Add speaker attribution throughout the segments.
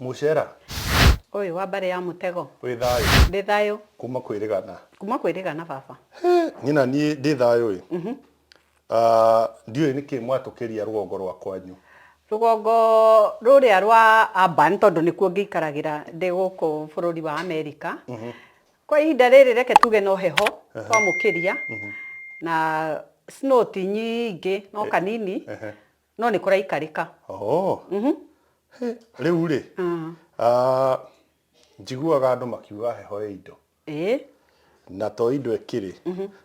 Speaker 1: Mũcera. Ũyũ wa mbarĩ ya mũtego. Wĩ thayũ. Ndĩ thayũ. Kuma kwĩ rĩgana. Kuma kwĩ rĩgana baba. Nyina niĩ ndĩ thayũ ĩ. Mhm. Ah, ndiũĩ nĩkĩ mwatũkĩria rũgongo rwa kwanyu. Rũgongo rũrĩa rwa amba nĩ tondũ nĩkuo ngĩikaragĩra ndĩ gũkũ bũrũri wa Amerika. Mhm. Kwa ihinda rĩrĩ reke tuge no heho kwa mũkĩria. Mhm. Na snow ti nyingĩ no eh, kanini. Ehe. No nĩ kũraikarĩka. Oh. Mhm. He, rĩu rĩ, Mm. ah, njiguaga andũ makiuga heho ĩ indo Ĩĩ. na to indo ĩkĩrĩ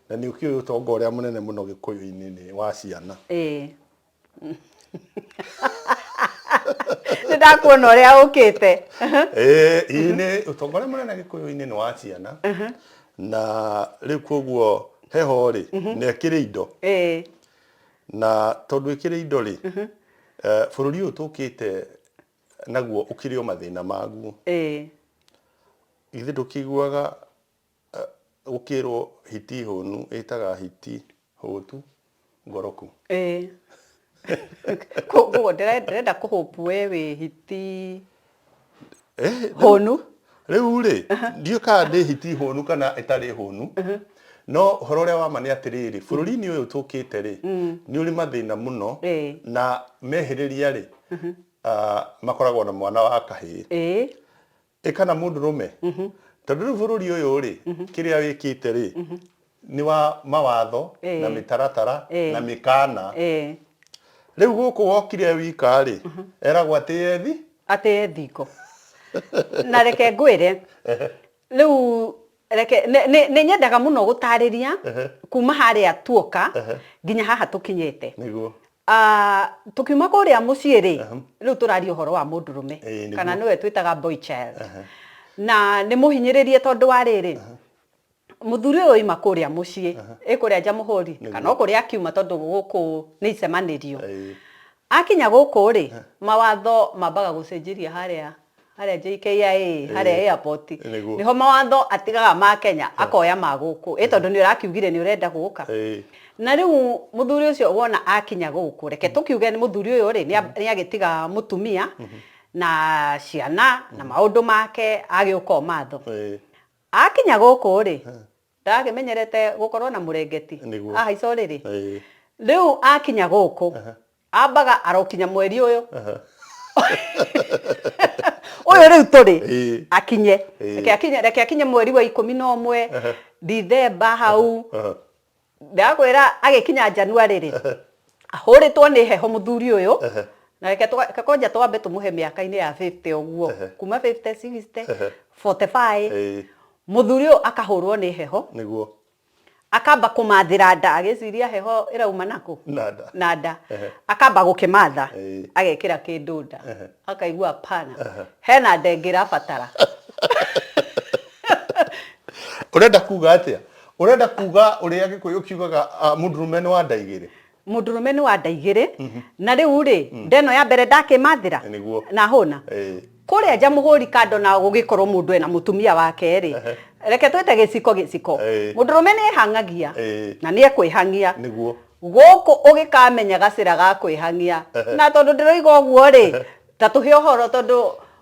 Speaker 1: na nĩ ũkĩũĩ ũtonga ũrĩa mũnene mũno gĩkũyũ-inĩ nĩ wa ciana Ĩĩ. Nĩ ndakuona ũrĩa ũkĩte. Eh, ĩĩ nĩ ũtonga ũrĩa mũnene gĩkũyũ-inĩ nĩ wa ciana na rĩu koguo heho rĩ nĩ ĩkĩrĩ indo Ĩĩ. Na tondũ ĩkĩrĩ indo-rĩ, eh, bũrũri ũyũ tũkĩte naguo ũkĩrĩ o mathĩna maguo. Ĩĩ. Githĩ ndũkĩiguaga eh, gũkĩrwo hiti hũnu ĩtaga hiti hũtu ngoroku? Ĩĩ. Kũguo ndĩre- ndĩrenda kũhũpu we wĩ hiti Eh, rĩu- hũnu rĩu rĩ ndiũ kana nĩ hiti hũnu kana ĩtarĩ hũnu no ũhoro ũrĩa wama nĩ atĩrĩrĩ bũrũri-inĩ ũyũ tũkĩte rĩ nĩ ũrĩ mathĩna mũno Ĩĩ. na mehĩrĩria rĩ ah, makoragwo na mwana wa kahĩĩ ĩĩ ĩ kana mũndũ rũme tondũ rĩu bũrũri ũyũ rĩ kĩrĩa wĩkĩte rĩ nĩ wa mawatho Ĩĩ. na mĩtaratara Ĩĩ. na mĩkaana Eh, rĩu gũkũ wokire wika rĩ eragwo atĩ yethi atĩ e thingo na reke ngwĩre rĩu reke nĩ- nĩ nĩ nyendaga mũno gũtarĩria Ehe. kuma harĩa tuoka Ehe. nginya haha tũkinyĩte nĩguo Ah, tũkiuma kũrĩa mũciĩ rĩ Aha. rĩu tũraria ũhoro wa mũndũrũme Ĩĩ, nĩguo. kana nĩwe twĩtaga boy child na nĩ mũhinyĩrĩrie tondũ wa rĩrĩ Mũthuri ũyũ oima kũrĩa mũciĩ ĩ kũrĩa Njamũhũri kana o kũrĩa akiuma tondũ gũkũ nĩ icemanĩrio. Akinya gũkũ rĩ mawatho mambaga gũcenjiria harĩa harĩa JKIA harĩa airport nĩho mawatho atigaga ma Kenya akoya ma gũkũ ĩ tondũ nĩ ũrakiugire nĩ ũrenda gũka. Na rĩu mũthuri ũcio wona akinya gũkũ reke tũkiuge mũthuri ũyũ rĩ nĩ agĩtiga mũtumia na ciana na maũndũ make agĩũka ũmatho. Aakinya gũkũ-rĩ, ndagakĩmenyerete gũkorwo na mũrengeti, Nĩguo. ahaica ũrĩrĩ. Ĩĩ. Rĩu aakinya gũkũ, ambaga arokinya mweri ũyũ. Ũyũ rĩu tũrĩ, Ĩĩ. akinye. Ĩĩ. Reke akinye, reke akinye mweri wa ikũmi na ũmwe, Ndithemba hau. ndakwĩra agĩkinya January rĩ ahũrĩtwo nĩ heho mũthuri ũyũ na reke twa- reke kwanja twambe tũmũhe mĩaka-inĩ ya 50 ũguo kuma 50 60 45 Ĩĩ, mũthuri ũyũ akahũrwo nĩ heho nĩguo akamba kũmathĩra nda agĩciria heho ĩrauma nakũ Na nda. na nda Ehe. akamba gũkĩmatha Ĩĩ. agekĩra kĩndũ nda akaigua pana hena nda ĩngĩ ĩrabatara ũrenda kuga atĩa Ũrenda kuga ũrĩa Gĩkũyũ kiugaga ah, mũndũrũme nĩ wa nda igĩrĩ? mũndũrũme nĩ wa nda igĩrĩ na rĩu rĩ ndeno ya mbere ndakĩmathĩra Ĩ, nĩguo. na hũna Ĩ. kũrĩa nja mũhũri kando na gũgĩkorwo mũndũ ena mũtumia wake rĩ reke twĩte gĩciko gĩciko Ĩ. mũndũrũme nĩ ehangagia Ĩ. na nĩ ekwĩhangia Nĩguo. gũkũ ũgĩkamenya gacĩra ga kwĩhangia na tondũ ndĩroiga ũguo rĩ ta tũhe ũhoro tondũ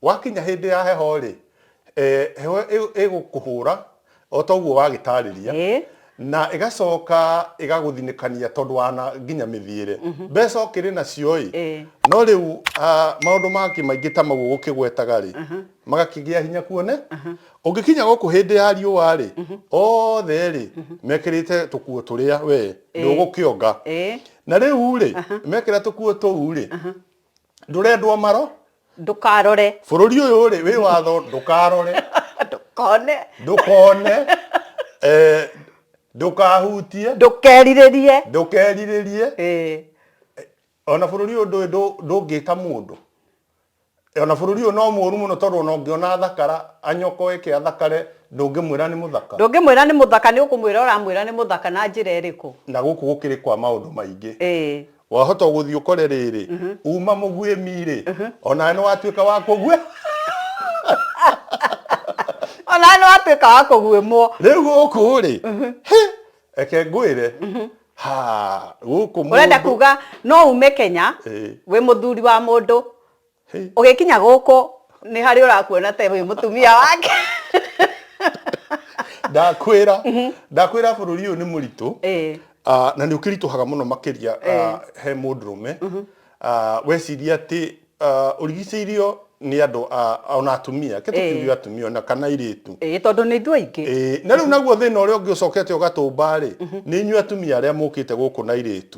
Speaker 1: Gwakinya hĩndĩ ya heho-rĩ, heho ĩgũkũhũra o ta ũguo wagĩtaarĩria, na ĩgacoka ĩgagũthinĩkania tondũ wa nginya mĩthiĩre. Mbeca ũkĩrĩ nacio-ĩ, no rĩu maũndũ mangĩ maingĩ ta mau ũgũkĩgwetaga-rĩ, magakĩgĩa hinya kuone, ũngĩkinya gũkũ hĩndĩ ya riũa-rĩ, othe-rĩ, mekĩrĩte tũkuo tũrĩa wee ndũgũkĩonga. Na rĩu-rĩ, mekĩra tũkuo tũu-rĩ, ndũrendwo maro ndũkarore bũrũri ũyũ rĩ wĩ watho ndũkarore ndũkone ndũkone eh, ndũkahutie ndũkerirĩrie ndũkerirĩrie Ĩĩ. ona bũrũri ũyũ ndũĩ ndũ- ndũngĩka mũndũ ona bũrũri ũyũ no mũru mũno tondũ ona ũngĩona athakara anyokoe ĩke athakare ndũngĩmwĩra nĩ mũthaka ndũngĩmwĩra nĩ mũthaka nĩ ũkũmwĩra ũramwĩra nĩ mũthaka na njĩra ĩrĩkũ na gũkũ gũkĩrĩ kwa maũndũ maingĩ Ĩĩ. Wahota ũgũthiĩ ũkore rĩrĩ uma mũguĩmi rĩ onawe nĩ watuĩka wa kũguĩ onawe nĩ watuĩka wa kũguĩmwo rĩu gũkũ rĩ hĩ, reke ngwĩre ha gũkũ ũrenda mũndũ- kuga no ume kenya Ĩĩ. wĩ mũthuri wa mũndũ ũgĩkinya gũkũ nĩ harĩ ũrakuona ta wĩ mũtumia wake ndakwĩra mhm. ndakwĩra bũrũri ũyũ nĩ mũritũ ah, na nĩ ũkĩritũhaga mũno makĩria ah, he mũndũrũme mhm. ah, weciria atĩ ũrigicĩirio nĩ andå ona atumia kä tå kiuge atumia ona kana irä tu tondå nä ithu aingä na rä u naguo thä na å rä a å ngä å cokete å gatå mba rä nä inyuä atumia arä a må kä te gå kå na irä tu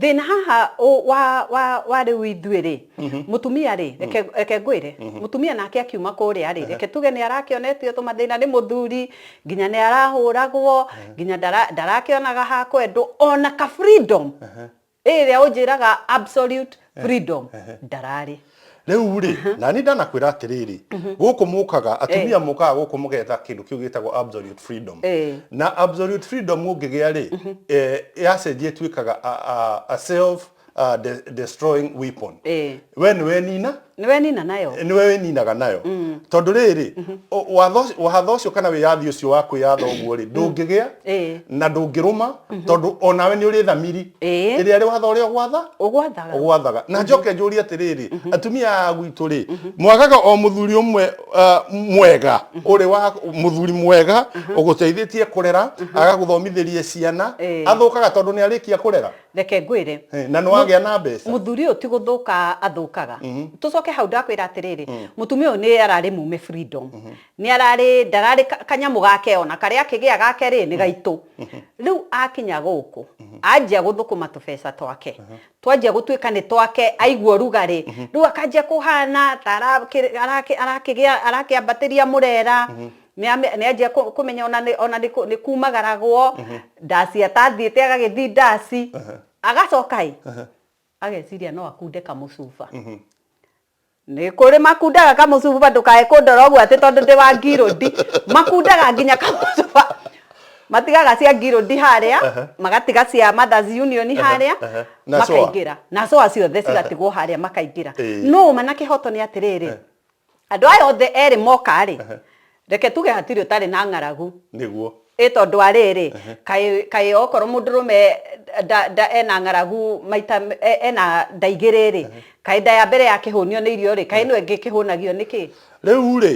Speaker 1: Thĩna haha ũ- wa, wa, wa rĩu ithuĩ-rĩ, mũtumia-rĩ, reke, reke ngwĩre, mũtumia nake akiuma kũrĩa-rĩ, reke tuge nĩ arakĩonetio tũmathĩna nĩ mũthuri, nginya nĩ arahũragwo, nginya ndara, ndarakĩonaga ha kwendwo, ona ka freedom ĩrĩa ũnjĩraga absolute freedom, ndararĩ. Rĩu rĩ, na nĩ ndanakwĩra atĩrĩrĩ, gũkũ mũkaga, atumia mũkaga gũkũ mũgetha kĩndũ kĩu gĩtagwo absolute freedom. Eh. Na absolute freedom ũngĩgĩa rĩ, eh, yacenjia ĩtuĩkaga a, a, a self uh, de, destroying weapon. Eh. We nĩ wenina, nĩ wenina nayo nĩwe wĩninaga nayo tondũ rĩrĩ o- watho ũcio- watho ũcio kana wĩyathi ũcio wa kwĩyatha ũguo rĩ ndũngĩgĩa Eh. na ndũngĩrũma tondå onawe nä å rä thamiri Ĩĩ. ä rä a rä watho å rä a å gwatha ũgwathaga ũgwathaga na njoke njũrie atĩrĩrĩ atumia a gwitũ rĩ mwagaga o mũthuri ũmwe uh, mwega ũrĩ wa mũthuri mwega ũgũteithĩtie kũrera agagũthomithĩrie ciana Eh. athũkaga tondũ nĩ arĩkia kũrera reke ngwĩre Eh, na nĩ wagĩa na mbeca muthuri ũyũ ti gũthũka athũkaga tũcoke hau ndakwĩra atĩrĩrĩ mũtumia ũyũ nĩ ararĩ mume freedom Nĩ ararĩ, ndararĩ ka, kanyamũ gake ona, karĩa akĩgĩa gake rĩ, nĩ gaitũ. Rĩu akinya gũkũ, anjia gũthũkũma tũbeca twake. Twanjia gũtuĩka nĩ twake, aigua ũrugarĩ, rĩu akanjia kũhana ta arakĩ, arakĩ, arakĩgĩa, arakĩambatĩria mũrera, nĩ ame, nĩ anjia kũ, kũmenya ona nĩ, ona nĩ kũ, nĩ kumagaragwo, ndaci atathiĩte agagĩthiĩ ndaci. Agacoka ĩ, ageciria no akunde kamũcuba. nä kå rä makundaga kamũcuba ndũkae kũndora ũguo atĩ tondũ ndĩ wa ngirũndi makundaga nginya kamũcuba matigaga cia ngirũndi harĩa magatiga cia mothers union harĩa Na coa. makaingĩra na coa ciothe cigatigwo harĩa makaingĩra Ĩĩ. no manakĩhoto nĩ atĩrĩrĩ andå aya othe erĩ moka rĩ Reke tuge hatirĩ ũtarĩ na ng'aragu. Nĩguo. Ĩ tondũ wa rĩrĩ, kaĩ, kaĩ okorwo mũndũrũme nda, nda, ena ng'aragu maita, ena nda igĩrĩ-rĩ, kaĩ nda ya mbere yakĩhũnio nĩ irio-rĩ, kaĩ ĩno ĩngĩ ĩkĩhũnagio nĩ kĩ? Rĩu-rĩ,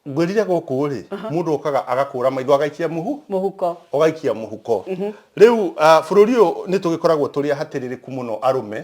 Speaker 1: ngwĩrire gũkũ-rĩ, mũndũ okaga agakũra maitho agaikia mũhu, mũhuko, ũgaikia mũhuko. Rĩu bũrũri ũyũ nĩtũgĩkoragwo tũrĩ ahatĩrĩrĩku mũno arũme,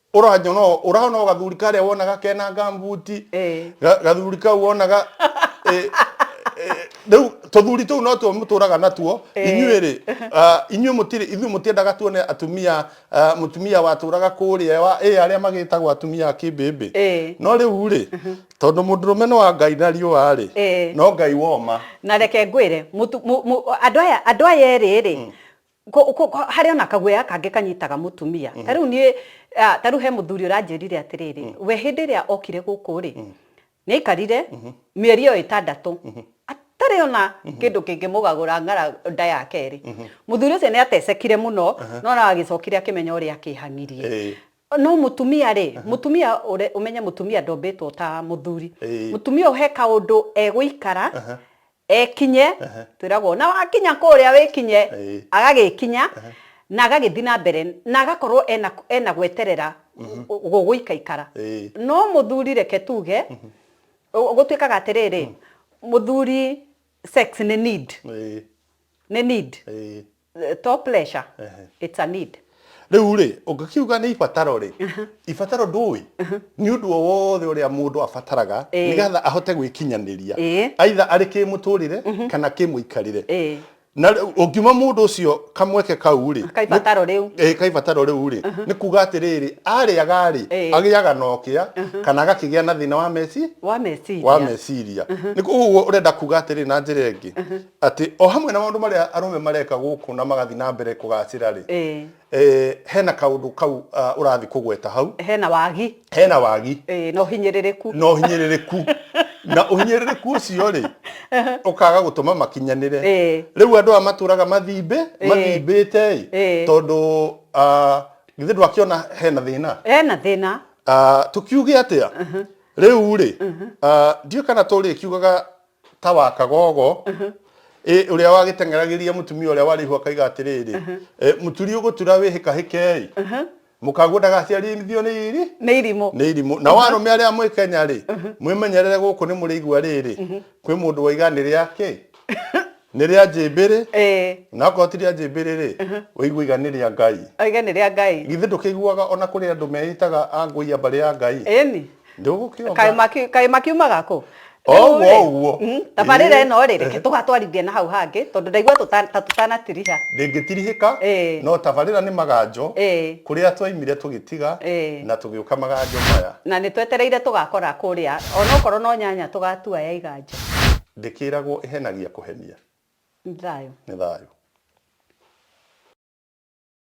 Speaker 1: ũranyona ũũ, ũrona o gathuri karĩa wonaga kena ngambuti Eh. ga- gathuri kau wonaga eh, eh, rĩu tũthuri tũu no tuo mũtũraga natuo inyuĩ rĩ ah, inyuĩ mũtirĩ ithuĩ mũtiendaga tuone atumia ah, mũtumia watũraga kũrĩa wa ĩ arĩa magĩtagwo atumia a kĩmbĩmbĩ Eh. no rĩu rĩ tondũ mũndũrũme nĩ wa ngai na riũa rĩ Eh. no ngai woma na reke ngwĩre mũtu- mu- mu- andũ aya andũ aya erĩ rĩ Ko- ko- ko- harĩ ona kaguoya kangĩ kanyitaga mũtumia ta rĩu niĩ ah, ta rĩu he mũthuri ũranjĩrire atĩrĩrĩ we hĩndĩ ĩrĩa okire gũkũ rĩ nĩ aikarire mĩeri ĩyo ĩtandatũ atarĩ ona kĩndũ kĩngĩmũgagũra ng'ara nda ya kerĩ mũthuri ũcio nĩ atecekire mũno no na agĩcokire akĩmenya ũrĩa akĩhangirie Ĩĩ. no mũtumia rĩ mũtumia ũre- ũmenye mũtumia ndombĩtwo ta mũthuri Ĩĩ. mũtumia ũhe kaũndũ egũikara ekinye Ehe. twĩragwo na wakinya kũrĩa wĩkinye Ĩĩ. agagĩkinya na agagĩthiĩ na mbere na agakorwo ena, ena gweterera gũgũikaikara Ĩĩ. no mũthuri reke tuge ũ- gũtuĩkaga atĩrĩrĩ mũthuri sex nĩ need Ĩĩ. nĩ need Ĩĩ. eh, to pressure Ehe. it's a need rä u rä å ngä kiuga nä ibataro rä ibataro ndå ä nä å ndå o wothe å rä a må ndå abataraga Ĩĩ. nä getha ahote gwä kinyanä ria Ĩĩ. aitha arä kä må tå rä re kana kä må ikarä re Ĩĩ. na rĩu ũngiuma mũndũ ũcio kamweke kau rĩ Kaibataro rĩu. ĩ kaibataro rĩu rĩ nĩ kuga atĩrĩrĩ arĩaga rĩ Ĩĩ. agĩaga na ũkĩa kana agakĩgĩa na thĩna wa meci wa meciria wa meciria nĩ koguo ũrenda kuga atĩrĩ na njĩra ĩngĩ Atĩ o hamwe na maũndũ marĩa arũme mareka gũkũ na magathiĩ na mbere kũgacĩra-rĩ, Ĩĩ. eh, hena kaũndũ kau ah, ũrathiĩ kũgweta hau, Hena wagi. hena wagi Ĩĩ, na ũhinyĩrĩrĩku. na ũhinyĩrĩrĩku na ũhinyĩrĩrĩku ũcio-rĩ ũkaga gũtũma makinyanĩre Ĩĩ. rĩu andũ aya matũraga mathimbĩ Ĩĩ. mathimbĩte-ĩ Ĩĩ. tondũ ah, githĩ ndwakĩona hena thĩna Hena thĩna. Ah, tũkiuge atĩa rĩu-rĩ ah, ndiũĩ kana tũrĩkiugaga ta wa kagogo ĩ ũrĩa wagĩteng'eragĩria mũtumia ũrĩa warĩ ihu akaiga atĩrĩrĩ ĩ, mũturi ũgũtura wĩhĩkahĩkei mũkaguo ndagaciarithio nĩ iri nĩ irimũ nĩ irimũ na warũme arĩa mwĩ kenya rĩ mwĩmenyerere gũkũ nĩ mũrĩ igua rĩrĩ kwĩ mũndũ waiga nĩ rĩake Nĩ rĩa njĩmbĩrĩ? Ĩĩ. Na okorwo ti rĩa njĩmbĩrĩ-rĩ, ũigua iga nĩ rĩa Ngai. Iga nĩ rĩa Ngai. Githĩ ndũkĩiguaga o na kũrĩ andũ meĩtaga a ngũiya mbarĩ ya Ngai? Ĩni. Ndũgũkĩonga. Kaĩ maki- kaĩ makiumaga kũ? O Rĩu-rĩ, ũguo, o ũguo. mm, tabarĩra Ĩĩ. ĩno-rĩ, reke Ĩhĩ. tũgatwarithie na hau hangĩ, tondũ ndaigua tũta- ta tũtanatiriha. Ndĩngĩtirihĩka, Ĩĩ. no tabarĩra nĩ maganjo, Ĩĩ. kũrĩa twaimire tũgĩtiga, Ĩĩ. na tũgĩũka maganjo maya. Na nĩtwetereire tũgakora kũrĩa, o na okorwo no nyanya tũgatua ya iganjo. Ndĩkĩragwo ĩhenagia kũhenia. Nĩ thayũ. Nĩ thayũ.